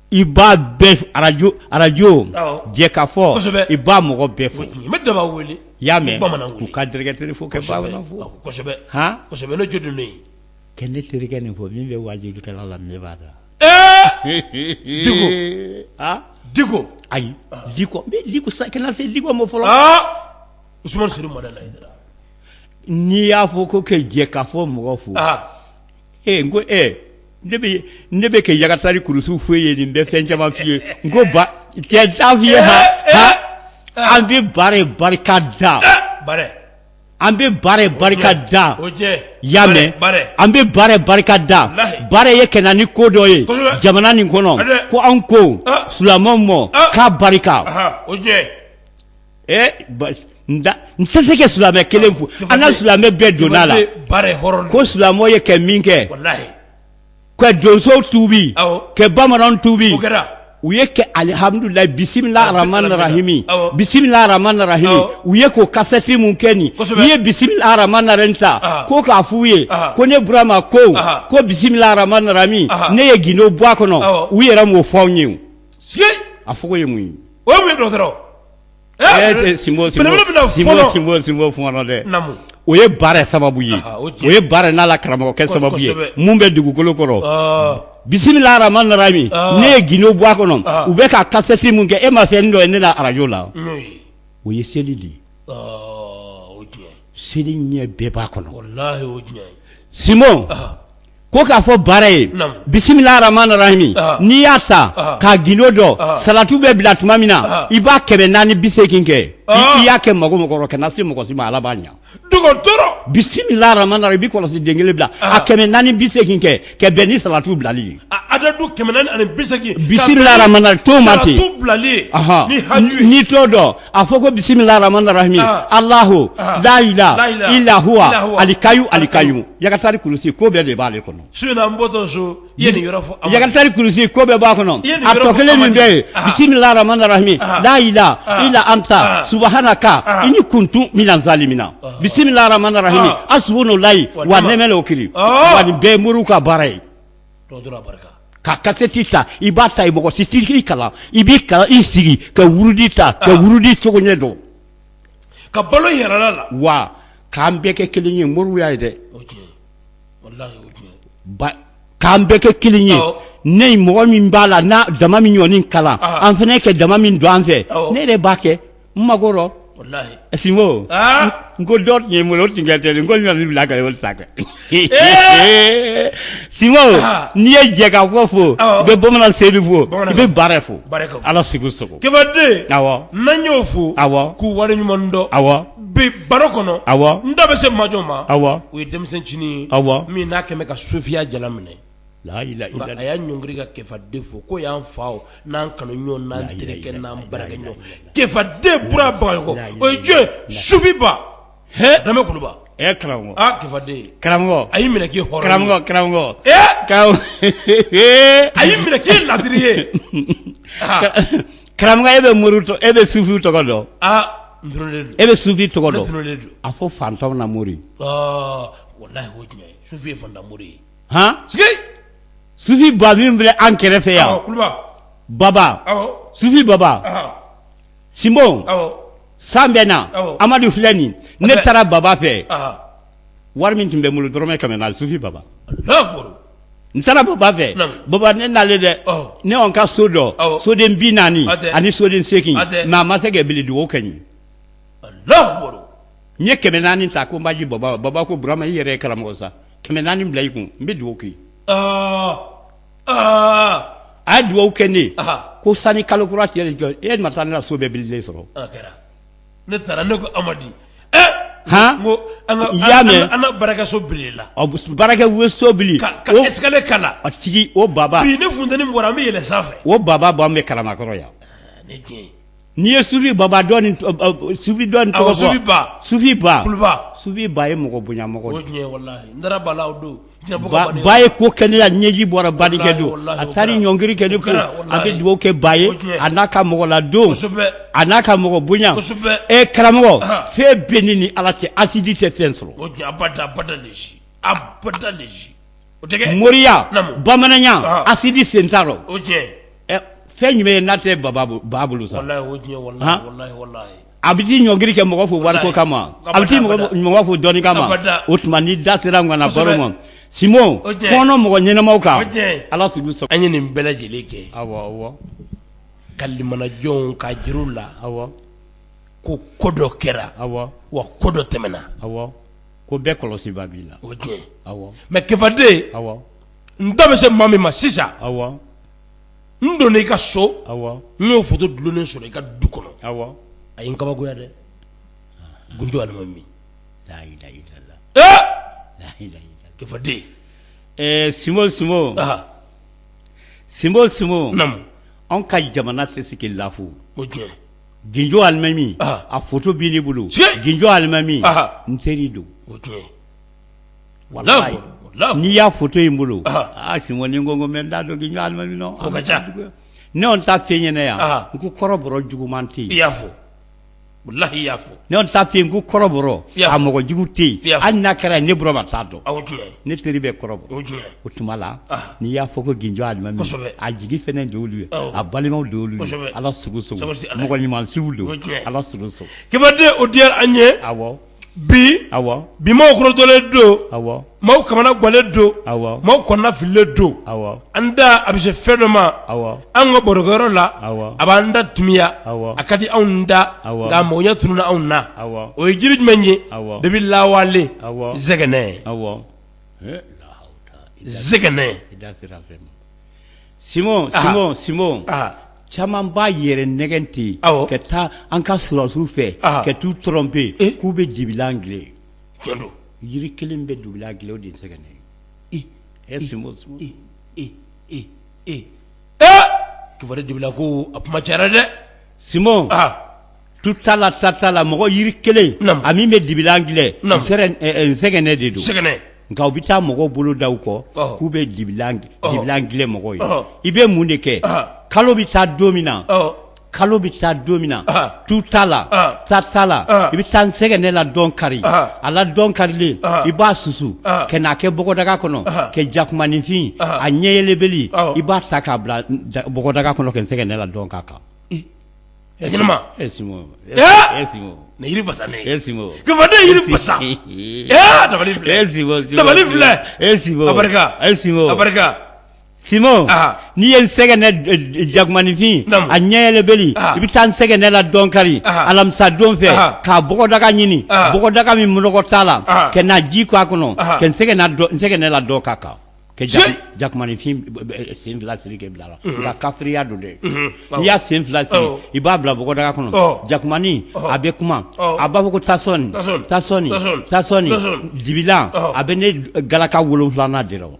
i b'a bɛɛ arajo arajo Jɛkafɔ i b'a mɔgɔ bɛɛ fo da wele i y'a mɛn bamanan k'u ka dirɛkitɛri fo kosɛbɛ kosɛbɛ ne jo don kɛ ne terikɛ nin fo min bɛ wajulikɛla la ne b'a da ayi ma fɔlɔ n'i y'a fɔ ko kɛ Jɛkafɔ mɔgɔ fo ee ko e ne bɛ kɛ yagatari kurusu fo i ye nin bɛ fɛn caman f'i ye n ko t'a f'i ye an bɛ baara barika da an bɛ baara barika da y'a mɛn an bɛ baara barika da baara ye kɛ na ni ko dɔ ye jamana nin kɔnɔ ko an ko silamɛw ma k'a barika n tɛ se ka silamɛ kelen fo an ka silamɛ bɛɛ donna la ko silamɛw ye kɛ min kɛ ka donsow tuubi ka bamananw tuubi u ye kɛ alihamudulayi bisimila arahimi bisimila aramani arahimi u ye k'o kasɛti min kɛ nin u ye bisimila aramani rahimi ta ko k'a f'u ye ko ne burama ko ko bisimila aramani rahimi ne ye gundo bɔ a kɔnɔ u yɛrɛ m'o fɔ anw ye a fɔ ye mun ye o ye baara sababu ye o ye baara n'a la karamɔgɔkɛ sababu ye minnu bɛ dugukolo kɔrɔ bisimila rahmani rahimi ne ye gindo bɔ a kɔnɔ u bɛ ka kasɛti min kɛ e ma fɛn dɔ ye ne arajo la o ye seli de ye seli ɲɛ bɛɛ b'a kɔnɔ ko k'a fɔ baara ye bisimila rahmani rahimi n'i y'a ta k'a gindo dɔ salatu bɛ bila tuma min na i b'a kɛmɛ naani biseegin kɛ i y'a kɛ mago mago rɔ kana se mɔgɔ si ma ala b'a ɲa dɔgɔtɔrɔ bisimila rahmani rahimi i b'i kɔlɔsi den kelen bila a kɛmɛ naani bisegin kɛ ka bɛn ni salatu bilali ye bisimila t'o ma ten n'i t'o dɔn a fɔ ko bisimila rahman rahimi ah. alahu ah. la ilaha ila huwa alikayu alikayu yakatari kurusi ko bɛɛ de b'ale kɔnɔ su in na n bɔtɔ so i ye nin yɔrɔ fɔ a yakatari kurusi ko bɛɛ b'a kɔnɔ a tɔ kelen min bɛ yen ah. bisimila rahman rahimi la ilaha ila anta subahanaka ini kuntu mina zalimina bisimila rahman rahimi asubunu layi wa nɛmɛ le o kiri wa nin bɛɛ ye moriw ka baara ye ka kasɛti ta i b'a ta i mɔgɔ si t'i kalan i b'i kalan i sigi ka wurudi ta ka wurudi cogo ɲɛ dɔn ka balo yɛrɛ la wa k'an bɛɛ kɛ kelen ye moriw y'a ye dɛ k'an bɛɛ kɛ kelen ye ne ye mɔgɔ min b'a la n'a dama min ɲɔgɔn kalan an fana kɛ dama min don an fɛ ne yɛrɛ b'a kɛ n mago rɔ walahi sinbo Ah! n ko dɔ tun ye n bolo o tun kɛ ten n ko n nana bila ka o sa kɛ sinbo Ah! n'i ye jɛkafɔ fo Awɔ. i bɛ bamanan seyidu fo i Bamanan- bɛ baara fo Baara fo. ala sugu sogo kebaden awɔ n'an y'o fo Awɔ. k'u wale ɲuman dɔn awɔ bi baro kɔnɔ Awɔ. n da bɛ se majɔ ma awɔ o ye denmisɛnnin cinin ye Awɔ. min n'a kɛmɛ ka sufiya jala minɛ a y'a ɲɔngiri ka kɛfaden fo ko y'an fa n'an kanu ɲɔgɔn n'an terikɛ n'an baarakɛ ɲɔgɔn kɛfaden bura bagayɔkɔ o ye jɔn sufiba dame kuluba karamɔgɔ kɛfaden karamɔgɔ a y'i minɛ k'i hɔrɔn karamɔgɔ a y'i minɛ k'i ladiri ye karamɔgɔkɛ e bɛ mori e bɛ sufi tɔgɔ dɔn e bɛ sufi tɔgɔ dɔn a fɔ faantanw na mori walahi sufi ye faantan mori ye sufi ba min filɛ an kɛrɛfɛ yan baba sufi baba sinbo san bɛ na amadu filɛ nin ne taara baba fɛ wari min tun bɛ n bolo dɔrɔmɛ kɛmɛ sufi baba n taara baba fɛ baba ne nalen dɛ ne y'an ka so dɔ soden bi naani ani soden seegin mais a ma se ka bili dugawu kɛ n ye n ye kɛmɛ naani ta ko n b'a di baba ma baba ko Burama i yɛrɛ ye karamɔgɔ sa kɛmɛ naani bila i kun n bɛ dugawu k'i ye a ye dugawu kɛ ne ye ko sani kalo kura cɛ de cɛ e ma taa ne ka so bɛɛ bililen sɔrɔ ne taara ne ko Amadi han n ko an ka i y'a mɛn an ka baarakɛso bilila baarakɛso bili ka escalier k'a la a tigi o baba bi ni funteni bɔra an bɛ yɛlɛn sanfɛ o baba b'an fɛ Kalabankɔrɔ yan nin ye tiɲɛ ye. N'i ye sufi baba dɔn ni tɔgɔ fɔ, sufi dɔn ni tɔgɔ fɔ, sufi ba, sufi ba, kuluba, sufi ba ye mɔgɔ bonyamɔgɔ de ye, o ye tiɲɛ ye walahi, n dara ba la o don, ba ye ko kɛ ne la ɲɛji bɔra ba denkɛ don, a taara i ɲɔngiri ka ne fo, a bɛ dugawu kɛ ba ye a n'a ka mɔgɔ ladon, kosɛbɛ, a n'a ka mɔgɔ bonya, kosɛbɛ, e karamɔgɔ fɛn bɛ nin ni Ala cɛ asidi tɛ fɛn sɔrɔ, o ye tiɲɛ ye abada abada abada o tɛ moriya bamananya asidi sen t'a rɔ fɛn jumɛn ye n'a tɛ ba bolo sa a bɛ t'i ɲɔngiri ka mɔgɔ fo wariko kama a bɛ taa mɔgɔ fo dɔnni kama o tuma ni da sera ŋana baro ma sinbo kɔnɔn mɔgɔ ɲɛnamaw kan ala an ye nin bɛɛ lajɛlen kɛ awɔ Kalimana Jo ka juru la awɔ ko ko dɔ kɛra awɔ wa ko dɔ tɛmɛna awɔ ko bɛɛ kɔlɔsibaa b'i la o tiɲɛ awɔ mɛ kefaden awɔ n da bɛ se maa min ma sisan awɔ n donna i ka so awɔ n y'o foto dulonnen sɔrɔ i ka du kɔnɔ awɔ a ye n kabakoya dɛ Gunjo alimami kefaden ɛɛ sinbo sin sinbo sinbo naamu an ka jamana tɛ se ka lafu o tiɲɛ gdo alimami a fu b'i bolo gdo alimami n teri don wala n'i y'a fu in bolo aa sin ko n da dɔn gdo alimami ne ta fɛn ɲɛna yan n ko kɔrɔ juguman tɛ i y'a fɔlahiyi y'a fɔ Ne tun t'a f'i ye ko kɔrɔbɔrɔ a mɔgɔ jugu tɛ yen hali n'a kɛra ne Burama t'a dɔn ne teri bɛ kɔrɔbɔrɔ o tuma la n'i y'a fɔ ko Gunjo alimami a jigi fɛnɛ de olu ye a balimaw de olu ye ala mɔgɔ ɲuman si don ala kefaden o diyara an ye bi bi maaw kɔrɔtɔlen don maaw kamana gwannen don maaw kɔnɔna fililen don an da a bɛ se fɛn dɔ ma an ka barokɛyɔrɔ la a b'an da timiya a ka di anw da nka mɔgɔya tununna anw na o ye jiri jumɛn ye depuis lawale zɛgɛnɛ zɛgɛnɛ sinbo caman b'a yɛrɛ nɛgɛn ten ka taa an ka sulasiw fɛ ka t'u tromper k'u bɛ dibi dila don jiri kelen bɛ dibilan dilan o de ye nsɛgɛnɛ Simon kiba de dibilan ko a kuma cayara dɛ Simon tu ta la ta t'a la mɔgɔ jiri kelen a min bɛ dibilan dilan sɛgɛnɛ de don sɛgɛn nka u bɛ taa mɔgɔ bolo da u kɔ k'u bɛ dibilan dilan mɔgɔ ye i bɛ mun de kɛ kalo bɛ taa don min na kalo bɛ taa don min na tu t'a la ta t'a la i bɛ taa nsɛgɛnɛ la dɔn kari a la dɔn karilen i b'a susu ka n'a kɛ bɔgɔdaga kɔnɔ ka jakumaninfin a ɲɛyɛlɛbeli i b'a ta k'a bila bɔgɔdaga kɔnɔ ka nsɛgɛnɛ la dɔn k'a kan Simon Aa. n'i ye nsɛgɛnɛ d- d- jakumaninfin Naamu. a ɲɛyɛlɛbeli Aa. i bɛ taa nsɛgɛnɛ la dɔn kari Aa. alamisa don fɛ Aa. k'a bɔgɔdaga ɲini Aa. bɔgɔdaga min nɔgɔ t'a la Aa. ka na ji k'a kɔnɔ Aa. ka nsɛgɛnna dɔ- nsɛgɛnɛ la dɔn k'a kan ka jaku- Tiɲɛ. jakumaninfin b- b- b- sen fila siri k'a bila a la nka kafiriya don dɛ awɔ. n'i y'a sen fila siri Awɔ. i b'a bila bɔgɔdaga kɔnɔ Ɔ. jakumanin Ɔhɔ. a bɛ kuma Ɔ. a b'a fɔ ko tasɔni Tasɔni. tasɔni Tasɔni. tasɔni Tasɔni. dibilan Ɔhɔ. a bɛ ne galaka wolonfilanan de la o.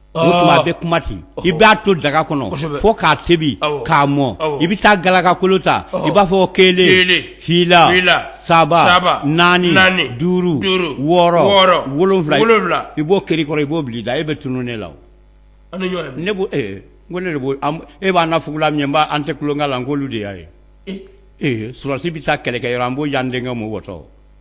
tuma a bɛ kuma ten i b'a to daga kɔnɔ fo k'a tobi k'a mɔ i bɛ taa galakakolo ta i b'a fɔ kelen fila saba naani duuru wɔɔrɔ wolonwula i b'o kari kɔrɔ i b'o bila i da e bɛ tunun ne la ne b'o n ko ne de b'o e b'a na fugula min ye an tɛ tulonkɛ la n k'olu de y'a ye ee sɔrɔdasi bɛ taa kɛlɛkɛ yɔrɔ an b'o yan denkɛ mɔgɔtɔ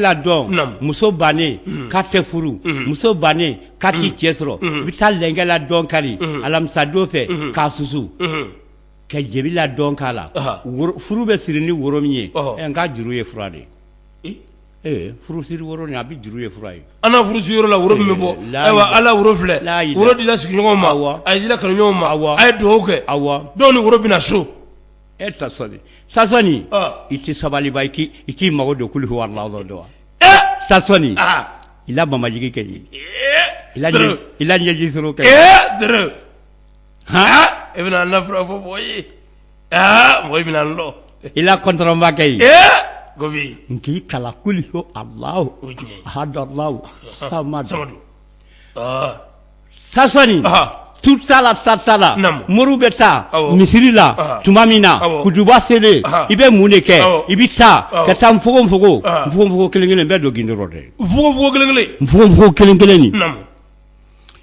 la dɔn muso bannen k'a tɛ furu muso bannen k'a tɛ cɛ sɔrɔ i bɛ taa lɛnkɛ la dɔn kari alamisadon fɛ k'a susu ka jebi la dɔn k'a la furu bɛ siri ni woro min ye n k'a juru ye fura de ye furusiri woro nin a bɛ juru ye fura ye an na furusiri yɔrɔ la woro min bɛ bɔ ayiwa ala woro filɛ woro tila sigiɲɔgɔn ma wa a y'a tila kanuɲɔgɔn ma wa a ye dugawu kɛ a wa dɔw ni woro bɛna so e ta sa tasɔni i tɛ sabali i k i k'i mago don kuli wallahu dɔn wa tasɔni i la babajigi kɛ ye i i la ɲɛji kɛ h e bɛna fura fɔ mɔgɔ ye Aa mɔgɔ bɛna n lɔn i la kɔntɔnbakɛ ye ko n k'i kalan kuli ho Allahu ahad Allahu samadu tasɔni tu ta la ta t'a la mori bɛ taa misiri la tuma min na kutuba selen i bɛ mun de kɛ i bɛ taa ka taa nfogonfogo nfogonfogo kelen kelen bɛ don gundo rɔ dɛ nfogonfogo kelen kelen kelen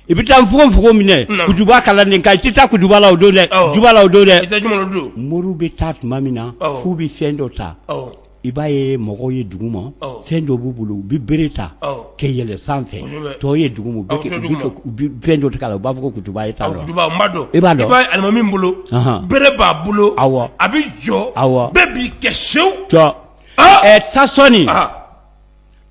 i bɛ taa nfogonfogon minɛ kutuba kalan nin i tɛ taa kutuba la o don dɛ la o don dɛ mori bɛ taa tuma min na f'u bɛ fɛn dɔ ta i b'a ye mɔgɔw ye duguma fɛn dɔ b'u bolo u bɛ bere ta kɛ yɛlɛ sanfɛ tɔw ye duguma fɛn dɔ la u b'a fɔ kutuba ta i b'alimami bolo bere b'a bolo aw a bɛ jɔ aw bɛɛ b'i kɛ sew ta sɔɔni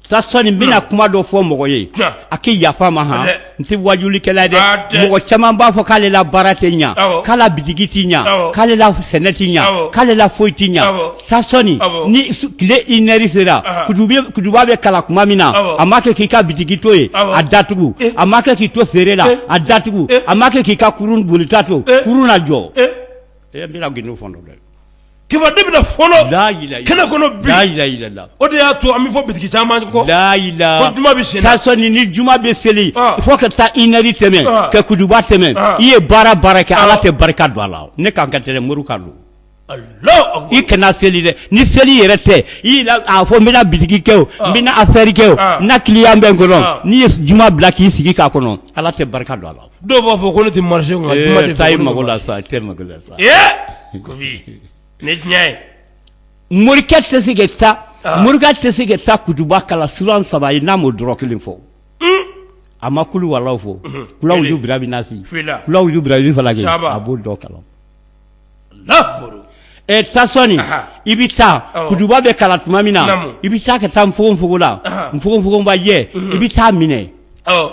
sa sɔni n bɛna kuma dɔ fɔ mɔgɔ ye a k'i yafa ma han n tɛ wajulikɛla ye dɛ mɔgɔ caman b'a fɔ k'ale la baara tɛ ɲa k'a la bitigi tɛ ɲa k'ale la sɛnɛ tɛ ɲa k'ale la foyi tɛ ɲa sa sɔni ni tile une heure sera kutuba bɛ kalan kuma min na a ma kɛ k'i ka bitigi to yen a datugu a ma kɛ k'i to feere la a datugu a ma kɛ k'i ka kurun bolita to kurun lajɔ e n bɛna gindo fɔ dɛ kiba de bɛ fɔlɔ da jira kɛnɛ kɔnɔ da jira jira la o de y'a to an bɛ fɔ bitigi caman kɔ da jira juma bɛ sen sɔ ni ni juma bɛ seli fo ka taa une heure tɛmɛ ka kutuba tɛmɛ i ye baara o baara kɛ ala tɛ barika don a la ne ka kan tɛ dɛ mori kan don i kana seli dɛ ni seli yɛrɛ tɛ i a fɔ n bɛna bitigi kɛ o n bɛna affaire kɛ o n na client bɛ n kɔnɔ n'i ye juma bila k'i sigi k'a kɔnɔ ala tɛ barika don a la Dɔw b'a fɔ ko ne tɛ marché kɔnɔ ee taa i mago la sa taa i mago la sa ee Kofi nin ye tiɲɛ ye morikɛ tɛ se ka taa ɔnhɔn morikɛ tɛ se ka taa kutuba kalan suran 3 ye n'a m'o dɔ rɔ 1 fɔ unh a ma kul huwa Alahu fɔ unhun kul awuzu birabi naasi filɛ la kul awuzu birabi falaki saaba a b'o dɔ kalan Alahu akibaru ɛ taa sɔni anhan i bi taa awɔ kutuba bɛ kalan tuma min na naamu i bi taa ka taa nfogonfogon na anhan nfogonfogonbajɛ unhun i bi taa minɛ awɔ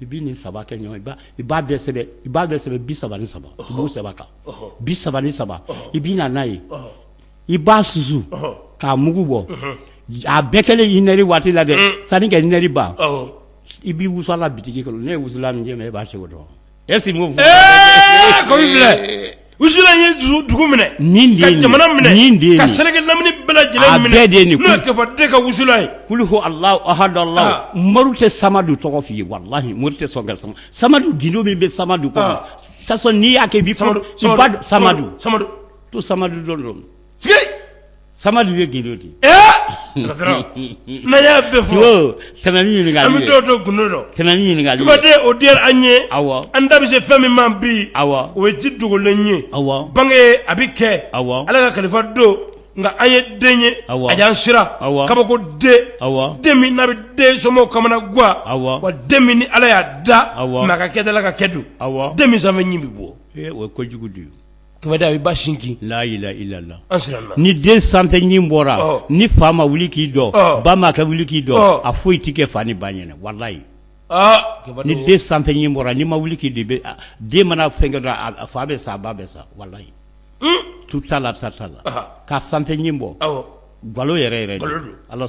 i bɛ nin saba kɛ ɲɔgɔn i b'a bɛɛ sɛbɛn i b'a bɛɛ sɛbɛn bi saba ni saba i b'o sɛbɛn a kan bi saba ni saba i bɛ na n'a ye i b'a susu k'a mugu bɔ a bɛɛ kɛlen une heure waati la dɛ sanni ka une heure ban i b'i wusu a la bitigi kɔnɔ ne ye wusulan min kɛ i b'a se o dɔn Est ce que mɔgɔw Ee Kɔri filɛ wusulan ye dugu minɛ nin de ye nin ye ka jamana minɛ nin de ye nin ye ka seleke lamini bɛɛ lajɛlen minɛ a bɛɛ de ye nin ye n'o ye Kɛfa de ka wusulan ye kulu huwa Alahu ahadu Alahu aa Moriw tɛ samadu tɔgɔ f'i ye walahi Mori tɛ sɔn ka sama samadu gindo min bɛ samadu kɔnɔ aa de toute façon n'i y'a kɛ i b'i samadu samadu samadu samadu to samadu dɔrɔn samadu ye gindo de y'a bɛɛ fɔ ɲininka o diyara an ye aw an da bɛ se fɛn min ma bi aw o ye ji dogolen ye aw bange a bɛ kɛ aw ala ka kalifa don nka an ye den ye aw a y'an siran aw kabako den aw den min n'a bɛ den somɔgɔw kamanagan aw wa den min ni ala y'a da aw ka kɛta ka kɛ don aw den min sanfɛ ɲin bɛ bɔ o ye ko jugu de ye Kifaden i ba sinji layila i lala an siranna ni den sanfɛ ɲin bɔra ni fa ma wuli k'i jɔ ba ma kɛ wuli k'i jɔ a foyi tɛ kɛ fa ni ba ɲɛna walayi ni den sanfɛ ɲin bɔra ni ma wuli k'i de bɛ den mana fɛn kɛ fa bɛ sa ba bɛ sa walayi tu t'a la ta t'a la k'a sanfɛ ɲin bɔ galo yɛrɛ ala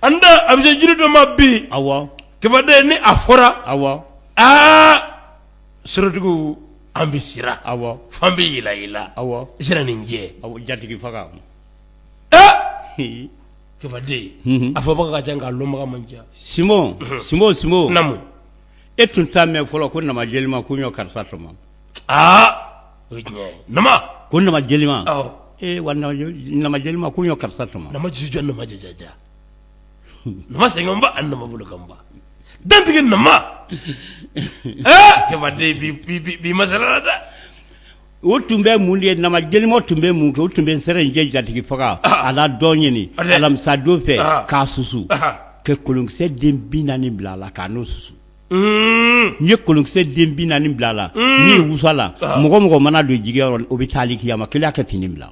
an da bɛ se jiri dɔ ma bi Kifaden ni a fɔra aa aa sirajugu an bɛ sira awɔ fan bɛɛ yɛlɛ yɛlɛ awɔ sɛrɛninjɛ a jatigi faga Kifaden a fɔbaga ka ca nka lɔnbaga man ca sinbo sinbo sinbo namu e tun t'a mɛn fɔlɔ ko nama jelima ko ɲɔ karisa tɔmɔ aa o ko nama jelima wa nama jelima ko ɲɔ karisa tɔmɔ nama jisi jɔ nama jajaja nama sɛgɛnba ani nama bolo kan ba dantigi nama Kifaden bi masala la dɛ o tun bɛ mun de ye nama jelima tun bɛ mun kɛ o tun bɛ sɛrɛninjɛ jatigi faga a ladɔn ɲini alamisa don fɛ k'a susu ka kolonkisɛ den bi naani bila a la k'a n'o susu n'i ye kolonkisɛ den bi naani bila a la n'i y'i wusu a la mɔgɔ mɔgɔ mana don jigi rɔ o bɛ taali kiyama kelen kɛ fini bila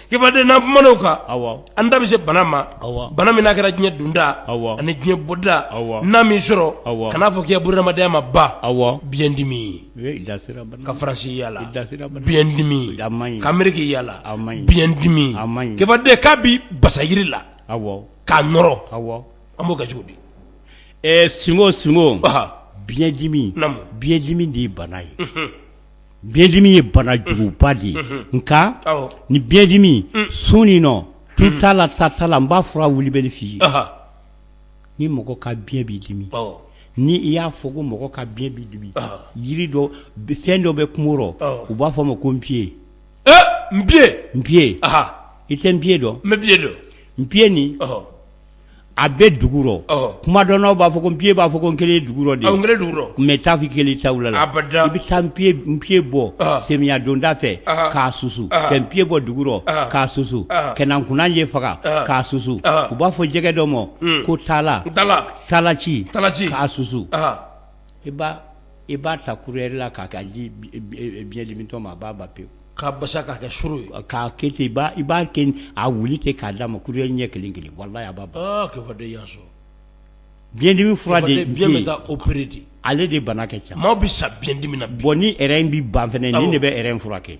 Kifaden n'an kumana o kan, awɔ, an da bɛ se bana ma, awɔ, bana min n'a kɛra diɲɛ donda, awɔ, ani diɲɛ bɔda, awɔ, n'a m'i sɔrɔ, awɔ, kan'a fɔ k'i ka bunadamadenya ma ban, awɔ, biɲɛ dimi, ee i da sera bana ma, ka France yala, i da sera bana ma, biɲɛ dimi, a maɲi, ka Ameriki yala, a maɲi, biɲɛ dimi, a maɲi, Kifaden k'a b'i basa yiri la, awɔ, k'a nɔrɔ, awɔ, an b'o kɛ cogo di? Ɛɛ sinbo sinbo, ɔnhɔn, biɲɛ dimi, naamu, biɲɛ dimi de ye bana ye, unhun biɲɛ dimi ye banajuguba de ye nka ni biɲɛ dimi sun in nɔn tu t'a la ta t'a la n b'a fura wulibali f'i ye ni mɔgɔ ka biɲɛ b'i dimi ni i y'a fɔ ko mɔgɔ ka biɲɛ bɛ dimi yiri dɔ fɛn dɔ bɛ kungo rɔ u b'a fɔ a ma ko npiye npiye npiye i tɛ npiye dɔn n bɛ npiye dɔn npiye nin a bɛ dugu rɔ ɔhɔ kumadɔnnaw b'a fɔ ko npiye b'a fɔ ko n kelen ye dugu rɔ de awɔ n kelen ye dugu rɔ mais i t'a fɔ i kelen ta wula la abada i bɛ taa npiye b npiye bɔ ɔhɔ semiya donda fɛ ɔhɔ k'a susu ɔhɔ ka npiye bɔ dugu rɔ ɔhɔ k'a susu ɔhɔ ka na nkunanjɛ faga ɔhɔ k'a susu ɔhɔ u b'a fɔ jɛgɛ dɔ ma un ko taala taala taalaci taalaci k'a susu ɔhɔ i b'a i b'a ta kuyɛri la k'a di e e biɲɛ dimitɔ ma a b'a ban pewu k'a basa k'a kɛ suru ye k'a kɛ ten. I b'a kɛ a wuli ten k'a d'a ma kuyɛri ɲɛ kelen kelen. Walayi a b'a ban. Biɲɛdimi fura de bɛ yen ale de bana ka ca maaw bɛ sa biɲɛdimi na. Bon ni rɛn in bi ban fana nin de bɛ rɛn in furakɛ.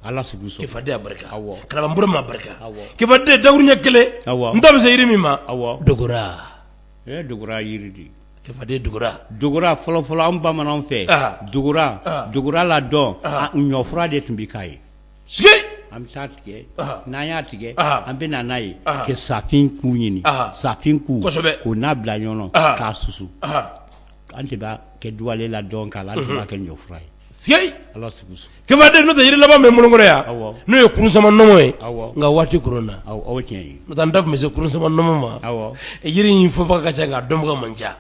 Ala sago i sago Karamɔgɔ n bɔra ma barika. Awɔ Kifaden dakuru ɲɛ kelen n da bɛ se yiri min ma Awɔ Dogora Dogora fɔlɔfɔlɔ an bamanan fɛ dogora la dɔn ɲɔfura de tun bɛ k'a ye an bɛ taa tigɛ n'an y'a tigɛ an bɛ n'a ye kɛ safin ku ɲini safin ku k'o n'a bila ɲɔgɔn k'a susu an tun b'a kɛ duwalen la dɔn k'a la an tun b'a kɛ ɲɔfura ye ala Kefade n'o tɛ jiri laban bɛ n bolo kɔrɔ yan n'o ye kurusanma nɔmɔ ye nka waati koronna n'o tɛ an da tun bɛ se kurusanma nɔmɔ ma jiri in fɔbaga ka ca nka a dɔnbaga man ca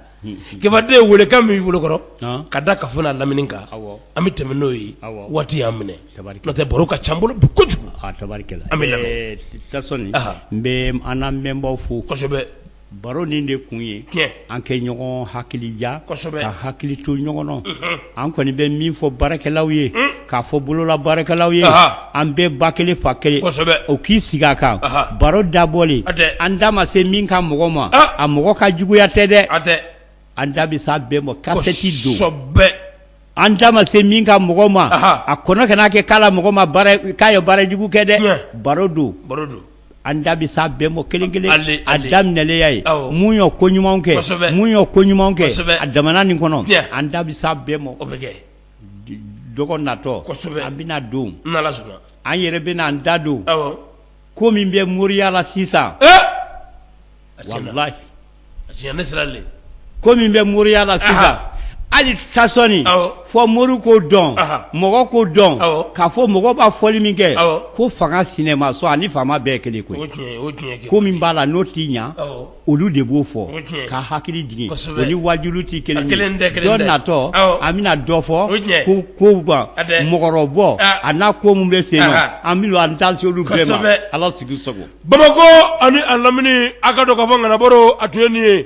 Kefade weelekan min b'i bolokɔrɔ ka da kafo n'a lamini kan an bɛ tɛmɛ n'o ye waati y'an minɛ n'o tɛ baro ka ca n bolo bi kojugu an bɛ n bɛ an lamɛnbaw fo kosɛbɛ baro nin de kun ye tiɲɛ an kɛ ɲɔgɔn hakilija kosɛbɛ ka hakili to ɲɔgɔn na unhun an kɔni bɛ min fɔ baarakɛlaw ye un k'a fɔ bolola baarakɛlaw ye anhan an bɛɛ ba kelen fa kelen kosɛbɛ o k'i sigi a kan anhan baro dabɔlen hatɛ an da ma se min ka mɔgɔ ma ah a mɔgɔ ka juguya tɛ dɛ hatɛ an da bɛ s'a bɛɛ ma kasɛti don kosɛbɛ An da ma se min ka mɔgɔ ma a kɔnɔ kana kɛ k'a la mɔgɔ ma k'a ye baara jugu kɛ dɛ baro don baro don an da bɛ s'a bɛɛ ma kelen kelen a daminɛlen ye mun ye ko ɲuman kɛ ko ɲuman kɛ a jamana nin kɔnɔ an da bɛ s'a bɛɛ ma dɔgɔ natɔ an bɛna don an yɛrɛ bɛna an da don ko min bɛ moriya la sisan ko min bɛ moriya la sisan hali Tasɔni fɔ mori ko dɔn mɔgɔ ko dɔn k'a fɔ mɔgɔ b'a fɔli min kɛ ko fanga sinamuso ani faama bɛɛ kelen koyi ko min b'a la n'o t'i ɲɛ olu de b'o fɔ ka hakili jigin o ni waajuli tɛ kelen ye dɔgɔ natɔ an bɛna dɔ fɔ ko ko ban mɔgɔrɔbɔ a n'a ko min bɛ sen na an bɛna an da se olu bɛɛ ma ala sigi sago bamakɔ ani a lamini a k'a dɔn k'a fɔ Ŋana Baro a tun ye nin ye